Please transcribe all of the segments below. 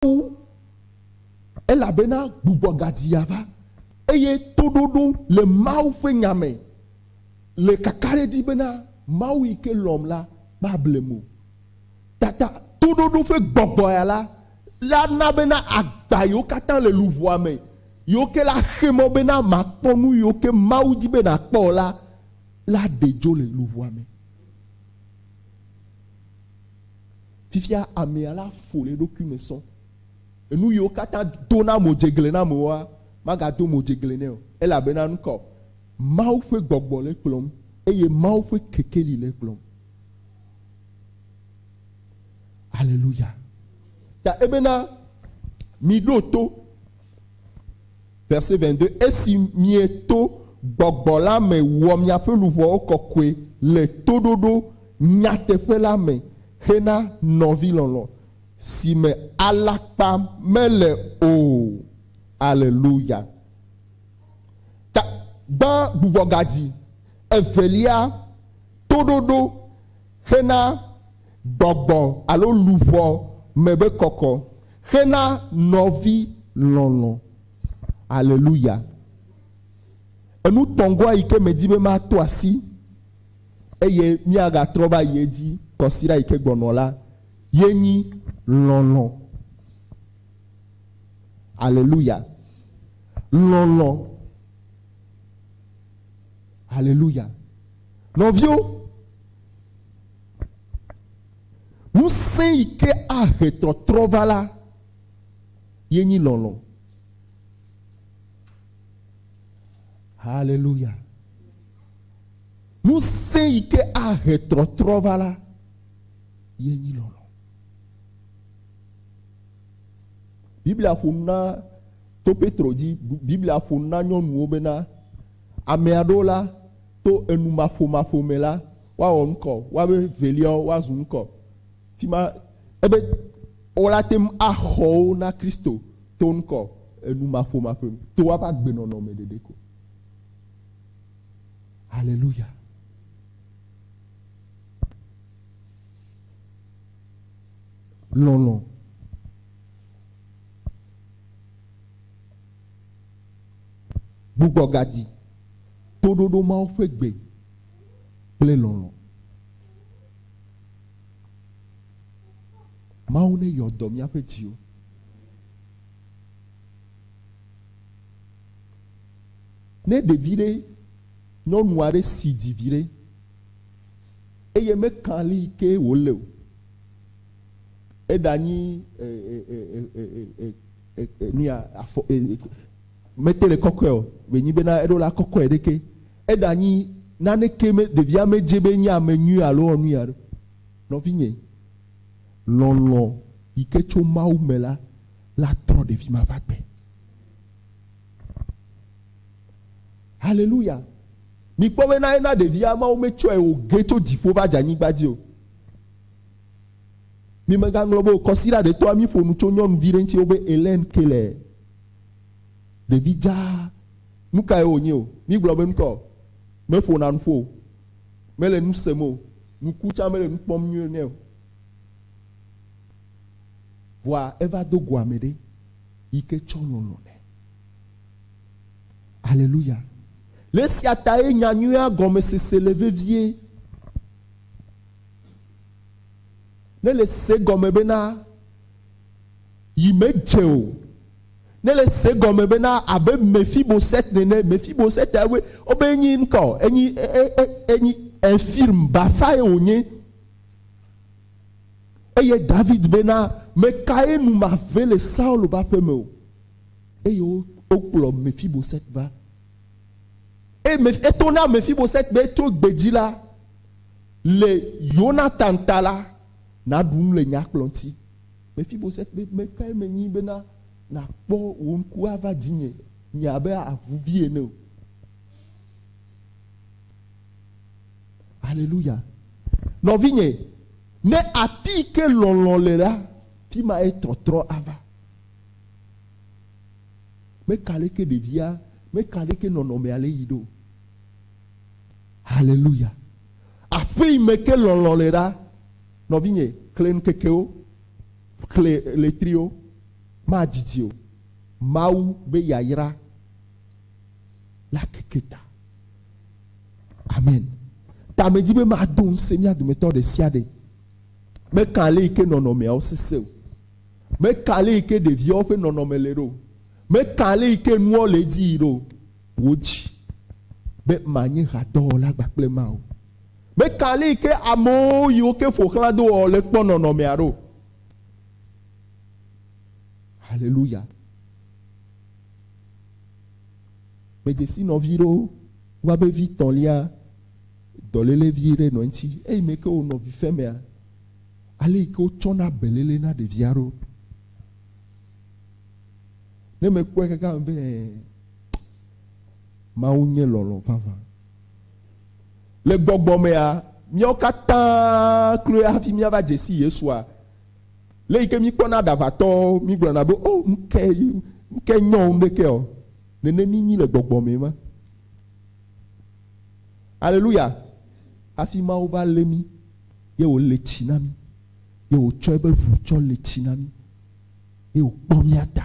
Mawu, elabena gbugbɔ gadi ava, eye toɖoɖo le Mawu ƒe nya me le kakaɖedzi bena Mawu yi ke lɔ̃m la mablem o. Tata toɖoɖo ƒe gbɔgbɔ ya la, la na bena agba yiwo katã le luʋɔa me yiwo ke la xe mɔ bena màkpɔ nu yiwo ke Mawu di be nàkpɔ o la, la ɖe dzo le luʋɔa me. Fifia amea la fo le eɖokui me sɔ. Enu yiwo katã dona mo dzegle na amewoa, magado mo dzegle nɛ o, elabena nu kaɔ? Mawu ƒe gbɔgbɔ le ekplɔm eye Mawu ƒe kekeli le ekplɔm. Aleluya. Ta ebena, miɖo to. Verset 22, Esi mieto Gbɔgbɔ la me wɔ miaƒe luʋɔwo kɔkɔe le toɖoɖo nyateƒe la me hena nɔvilɔlɔ̃, si me alakpa mele o. Aleluya! Ta, gbã gbugbɔgadzi evelia, toɖoɖo hena gbɔgbɔ alo luʋɔ me be kɔkɔ xe na nɔvi lɔlɔ̃. Aleluya! Enu tɔngɔa yi ke medi be mato asi eye míagatrɔ va yi edzi kɔsiɖa yi ke gbɔnɔ la ye nyi lɔlɔ̃. Aleluya! Lɔlɔ̃. Aleluya! Nɔviwo, Ŋusẽ yi ke ahe tɔtrɔ va la ye nyi lɔlɔ̃. Haleluya. Ŋusẽ yi ke ahe tɔtrɔ va la ye nyi lɔlɔ̃. Biblia ƒo na to Petro dzi, Biblia ƒo na nyɔnuwo bena ame aɖewo la to enumaƒomaƒo me la Woawɔ ŋkɔ, woabe veliawo woazu ŋkɔ. Fima ebe wola te ŋu axɔ wo na Kristo to ŋkɔ enumaƒomaƒe me, to woaƒe agbenɔnɔ me ɖeɖe ko. Haleluya. Lɔlɔ. Gbugbɔ gadi. Toɖoɖo Mawu ƒe gbe. kple lɔlɔ̃. Mawu ne yɔ dɔ míaƒe dziwo. Ne ɖevi ɖe nyɔnu aɖe si dzi vi ɖe eye mekan li ke wòle o, eɖanyi nuya afɔ mete le kɔkɔe o, wònyi bena eɖo la kɔkɔe ɖeke. Eɖanyi naneke me ɖevia medze be enye ame nyui alo ewɔ nu aɖe o. Nɔvinye, lɔlɔ̃ yi ke tso Mawu me la, la trɔ ɖevi ma va gbe. Haleluya! Mikpɔ be na ena ɖevia Mawu metsɔe wòge tso dziƒo va dze anyigba dzi o. Mi megaŋlɔ be o kɔsiɖa ɖetɔa mi ƒo nu tso nyɔnuvi ɖe ŋuti wobe Elaine Keller. Ɖevi dzaa Nukae wònye o? Mígblɔ be nukɔ o, meƒona nu ƒo o, mele nu sem o, nu ku tsã mele nu kpɔm nyuie nɛ o. Vɔa eva do go ame ɖe yi ke tsɔ lɔlɔ̃ nɛ. Aleluya. Le esia tae nyanyuia gɔmesese le vevie. Ne le se gɔme bena yi medze o. Nele se gɔme bena abe Mephiboset nene, Mephiboset ya woe wobe enyi ŋkɔ o, enyi e, e, e, enyi Ephirm, bafae wònye. Eye David bena, Mekae nu mave le Saul ƒe aƒe me o? Eye wo, wokplɔ Mephiboset va. Eye Meph- eto na Mephiboset be tso gbe dzi la, le Yonatan ta la, naɖu nu le nya kplɔ ŋuti. Mefiboset be, Me kae menyi bena nàkpɔ wò ŋku ava dzinye, nye abe avuvi ene o? Aleluya! Nɔvinye, ne afii ke lɔlɔ̃ le la, fi mae tɔtrɔ ava. Meka aleke ɖevia, meka aleke nɔnɔmea le yi ɖo. Aleluya! Aƒe yi me ke lɔlɔ̃ le la, Nɔvinye, xlẽ ŋkekewo, xlẽ ɣletriwo, madidi o. Mawu be yayra la keke ta. Amen. Ta medi be mado ŋusẽ mía dometɔ ɖe sia ɖe. Meka ale yi ke nɔnɔmeawo sesẽ o. Meka ale yi ke ɖeviawo ƒe nɔnɔme le ɖo. Meka ale yi ke nuwo le edzi yi ɖo. Wò dzi be manye hadɔwɔla gbakple ema o. Meka alii ke amewo yiwo ke ƒo xlã do ɔ le kpɔ nɔnɔmea ɖo. Haleluya. Medze si nɔvi ɖewo wa be vi tɔ̃lia dɔlele vi ɖe nɔ eŋuti eyi me ke wonɔ vi femea ale yi ke wotsɔna belele na ɖevia ɖo. Ne mekpɔe kakam be mawu nye lɔlɔ vavã. Le gbɔgbɔ mea, míawo katã kloe hafi míava dze si Yesua. Le yi ke míkpɔna aɖaʋatɔwo, mígblɔna be, o, nu ke, nu ke nyɔ wo ŋɖekea o. Nene mínyi le gbɔgbɔ mee ma. Aleluya. Hafi Mawu va lé mí, ye wòle tsi na mí, ye wòtsɔ eƒe ʋu tsɔ le tsi na mí, ye wòkpɔ mía ta.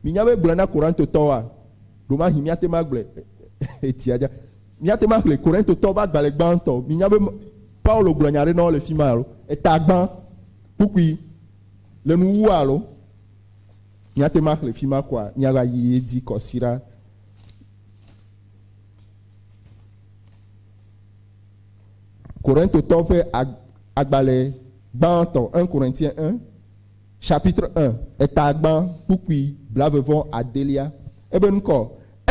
Minya be gblɔ na Korintotɔwoa? Ɖomahi míate ŋu agblɔe etsia dza. Míate ŋu axlẽ Korintotɔ ƒe agbalẽ gbãtɔ. Minya be Paulo gblɔ nya aɖe na wo le fi ma alo? Eta gbã, kpukpui, le nu wu alo? Míate ŋu axlẽ fi ma koa? Míava yi edzi kɔsiɖa. Korintotɔ ƒe agbalẽ gbãtɔ, 1 Corinthiens 1. Chapitre 1, Etagbã Kpukpui Blavevɔ Adelia, Ebe ŋkɔ,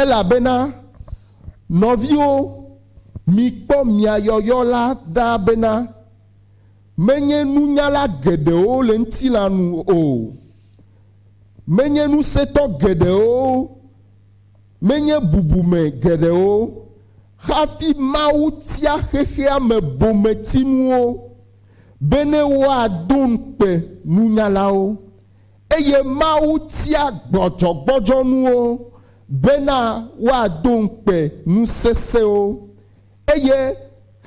Elabena, nɔviwo, mikpɔ mia yɔyɔ la ɖa bena, menye nunyala geɖewo le ŋutilã nu o, menye ŋusẽtɔ geɖewo, menye bubume geɖewo hafi Mawu tia xexea me bometinuwo bene woado ŋukpe nunyalawo, eye Mawu tia gbɔdzɔgbɔdzɔnuwo bena woado ŋukpe nu sesẽwo, eye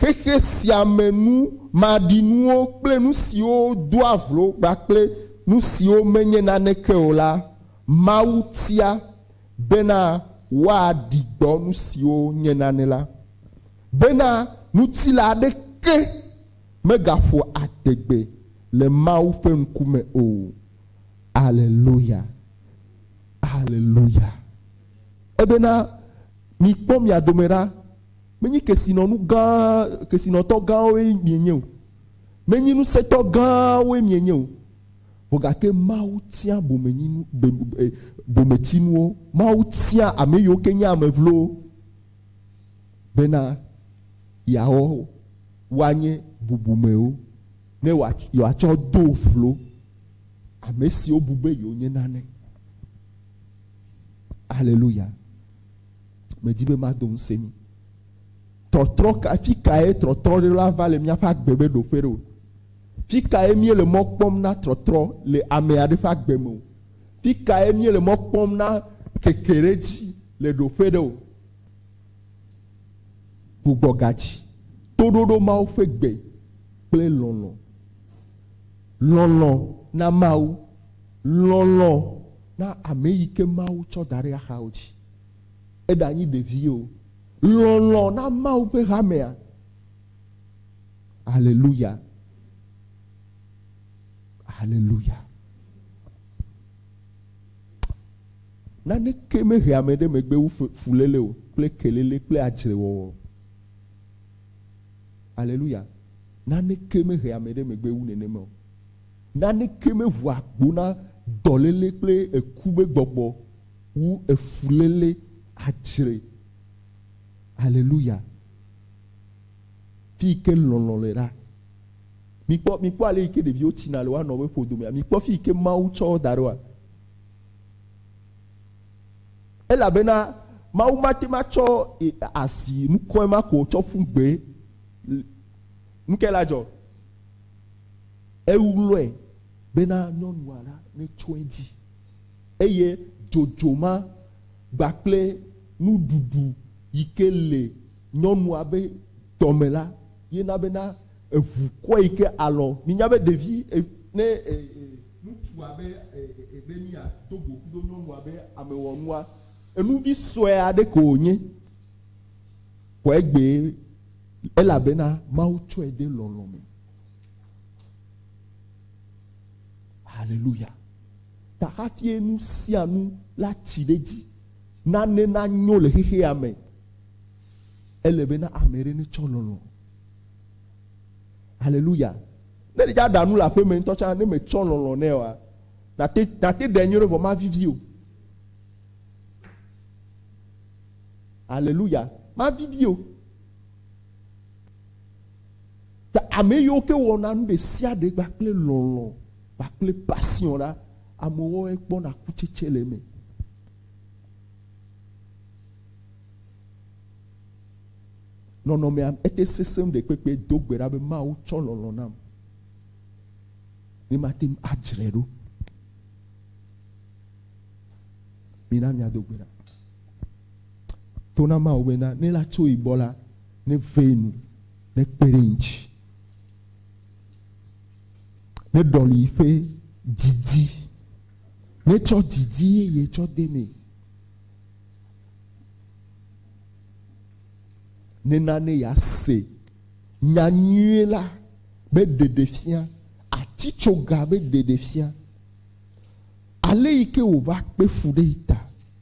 xexe sia me nu maɖinuwo kple nu siwo doa vlo kpakple nu siwo menye naneke o la, Mawu tia. bena woaɖi gbɔ nu siwo nye nanɛ la, bena ŋutilã aɖeke megaƒo adegbe le Mawu ƒe ŋkume o. Aleluya! Aleluya! Ebena, Mikpɔ mia dome ɖa, menye kesinɔnu gã, kesinɔtɔ gãwoe mienye o, menye ŋusẽtɔ gãwoe mienye o. Gake Mawu tia bomenyinu, be, be, bometsinuwo. Mawu tia ame yiwo ke nye ame vlowo bena yeawɔ woanye bubumewo, ne yewoatsɔ do vlo ame siwo bu be yewonye nane. Aleluya! Medi be mado ŋusẽ mi. Tɔtrɔ ka, fi kae trɔtrɔ ɖe la va le míaƒe agbe me ɖo ƒe ɖo? Fi kae míele mɔ kpɔm na trɔtrɔ le ame aɖe ƒe agbe me o? Fi kae míele mɔ kpɔm na kekeɖedzi le ɖo ƒe ɖe o? Gbugbɔ ga dzi, toɖoɖo Mawu ƒe gbe kple lɔlɔ̃. Lɔlɔ̃ na Mawu. Lɔlɔ̃ na ame yi ke Mawu tsɔ da ɖe axawo dzi, eɖanyi ɖevi o, lɔlɔ̃ na Mawu ƒe hamea. Aleluya! Aleluya! Naneke mehe ame ɖe megbe wu fuléle o kple keléle kple adzrewɔwɔ. Aleluya! Naneke mehe ame ɖe megbe wu nenema o. Naneke meʋua agbo na dɔléle kple eku me gbɔgbɔ wu efuléle adzre. Aleluya! Fiyike lɔlɔ̃ le ɖa. Mikpɔ, mikpɔ ale yike ɖeviwo tsina le woanɔ ƒe ƒodomea. Mikpɔ fiyike Mawu tsɔ wo da ɖoa. Elabena Mawu mate ŋu atsɔ asi nukɔe ma ko tsɔ ƒu gbee. Nukae la dzɔ? Eŋlɔe bena nyɔnua la netso edzi, eye dzodzo ma kpakple nuɖuɖu yike le nyɔnua be dɔme la ye na bena eŋu kɔe yike alɔ. Minya be ɖevi ne ŋutsua be be mia do go kudo nyɔnua be amewɔnua, enuvi sɔe aɖe ko wonye, kɔe gbee. Elabena Mawu tsɔe de lɔlɔ̃ me. Haleluya. Ta hafie nu sia nu la tsi ɖe dzi, nane nanyo le xexea me, ele bena ame ɖe netsɔ lɔlɔ̃. Haleluya. Ne ɖe dza ɖa nu le aƒeme ŋutɔ tsã, ne metsɔ lɔlɔ̃ nɛ oa, nate nate ɖe nyuie ɖe vɔ mavivi o. Aleluya. Mavivi o. Ta ame yiwo ke wɔna nu ɖe sia ɖe kpakple lɔlɔ̃ kpakple pasion la, amewoe kpɔna kutsetse le eme. Nɔnɔmea ete sesẽ ɖe kpekpe do gbe ɖa be Mawu tsɔ lɔlɔ̃ nam. Ne mate ŋu adzre ɖo. Mina mia do gbe ɖa. To na Mawu be na ne la tso yi gbɔ la, ne vee nu, ne kpe ɖe ŋuti, ne ɖɔli yi ƒe didi, ne tsɔ didi yeye tsɔ de mee. nena ne yease nya nyuie la be ɖeɖefia, atitsoga be ɖeɖefia, ale yi ke wòva kpe fu ɖe ta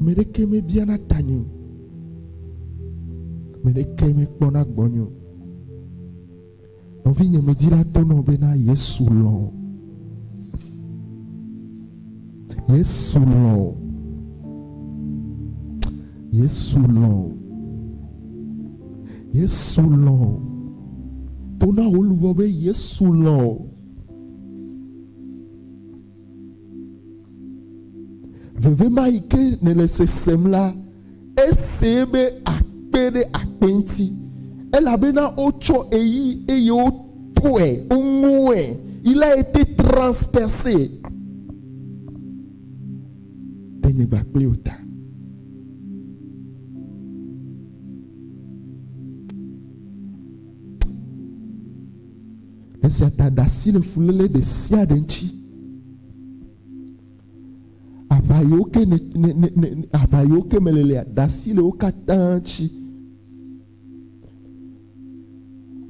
Me ɖeke mebiana tanye o. Me ɖeke mekpɔna gbɔnye o. Nɔvinye me dzila to nɔ be na Yesu lɔ. Yesu lɔ. Yesu lɔ. Yesu lɔ. To na wò luʋɔ be Yesu lɔ. Veve ma yi ke nèle sesem la, esee be akpe ɖe akpe ŋuti, elabena wotsɔ eyi eye wotɔe, woŋoe, yi la été transpercé ɖe nye gba kple wò ta. Esia ta ɖe asi le fuléle ɖe sia ɖe ŋuti. Aʋa yiwo ke ne, ne, ne, ne aʋa yiwo ke me lelea, ɖe asi le wo katã ŋuti.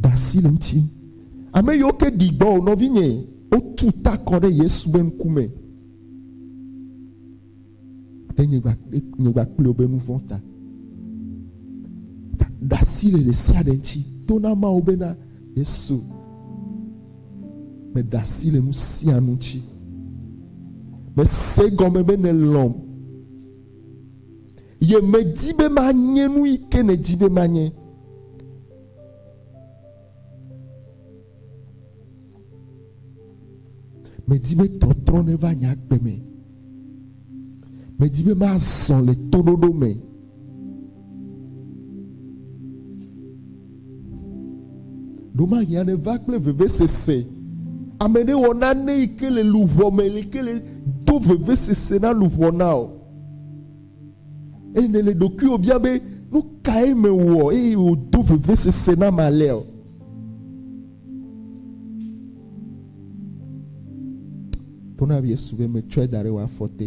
Ɖe asi le ŋuti. Ame yiwo ke ɖi gbɔ o, nɔvinye, wotu ta kɔ ɖe Yesu be ŋkume. Ɖe nye gba ɖe nye gba kple wobe nu vɔ̃ ta. Ɖe asi le ɖe sia ɖe ŋuti. To na Mawu bena Yesu meɖe asi le nu sia nu ŋuti. Mese gɔme be nèlɔ̃m. Ye medi be manye nu yi ke nèdi be manye. Medi be tɔtrɔ neva nye agbe me. Medi be mazɔ le toɖoɖo me. Ɖomahiã neva kple vevesese. Ame ɖe wɔ nane yi ke le luʋɔ me, yi ke le do vevesese na luʋɔ na o. Eye nèle ɖokuiwò bia be, nu kae mewɔ eye wòdo vevesese nam alea o? Ɖo na Yesu be metsɔe da ɖe wò afɔ te.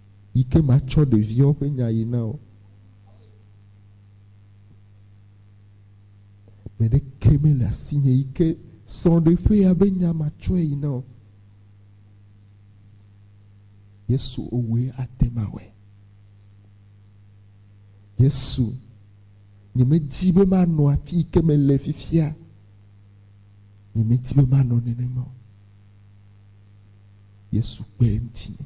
yi ke matsɔ ɖeviawo ƒe nya yi na wo. Ame ɖeke mele asinye yi ke srɔ̃ɖeƒea be nya matsɔe yi na wo. Yesu owɔe ate ŋu awɔe. Yesu, nyemedi be manɔ afi yi ke mele fifia. Nyemedi be manɔ nenema o. Yesu kpe ɖe ŋutinye.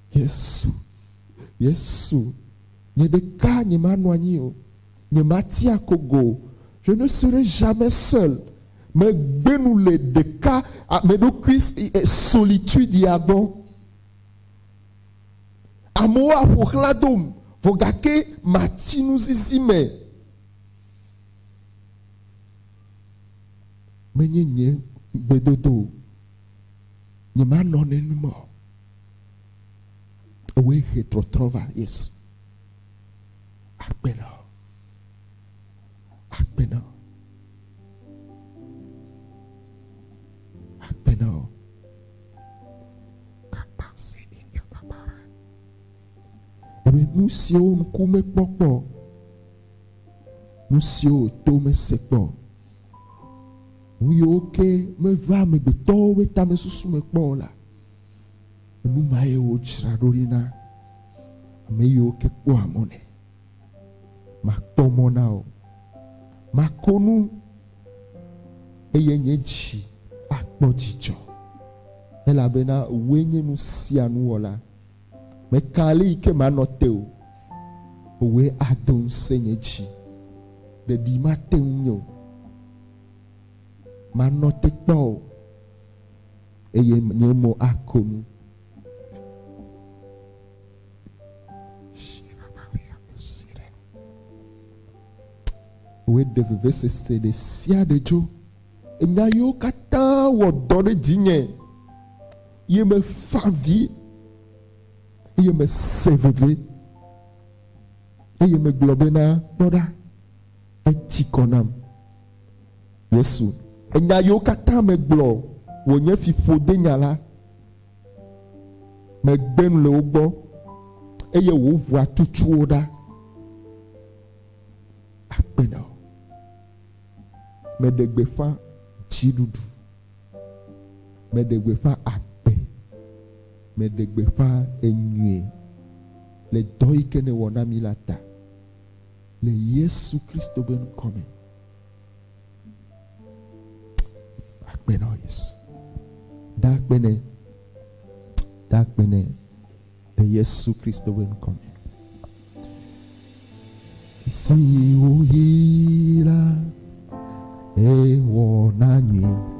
Yesu, Yesu, nye ɖeka nyemanɔ anyi o, nyemati akogo o, je ne serai jamais seul, megbe nu le ɖeka meɖokui solitude ya gbɔ. Amewo aƒoxlã dom, vɔ gake matsi nuzizi me. Menye nye gbedodo o, nyemanɔ nenema o. Ewɔe he trɔtrɔ va. Yes. Agbe na. Agbe na. Agbe na. Kapa se ne kapa bara. Ebe nu siwo ŋku mekpɔ kpɔ. Nu siwo to mese kpɔ. Nu yiwo ke meva amegbetɔwo ƒe tamesusu me kpɔ o la. Enu ma ye wodzra ɖo ɖi na ame yiwo ke kpɔa mɔ nɛ. Makpɔ mɔ na wò, mako nu eye nye dzi akpɔ dzidzɔ, elabena wòe nye nu sia nu wɔla. Meka ɣli yi ke manɔ te o, wòe ado ŋusẽ nye dzi. Ɖeɖi mate ŋu o, manɔ te kpɔ o. eye nye mo ako nu. Woɖe vevesese ɖe sia ɖe dzo. Enya yiwo katã wɔ dɔ ɖe dzinye ye mefa vi eye mese veve eye megblɔ bena kpɔ ɖa etsi kɔ nam. Yesu. Enya yiwo katã megblɔ wònye fiƒodenya la, megbe nu le wo gbɔ, eye wò ʋua tutu wo ɖa. Akpe na wò. Meɖe gbeƒã dziɖuɖu. Meɖe gbeƒã agbe. Meɖe gbeƒã enyuie le dɔ yi ke nèwɔ na mí la ta. le Yesu Kristo be ŋkɔ me. Akpe na Yesu. Da akpe ne. Da akpe ne le Yesu Kristo be ŋkɔ me. Si woyi la ewɔ na nyui.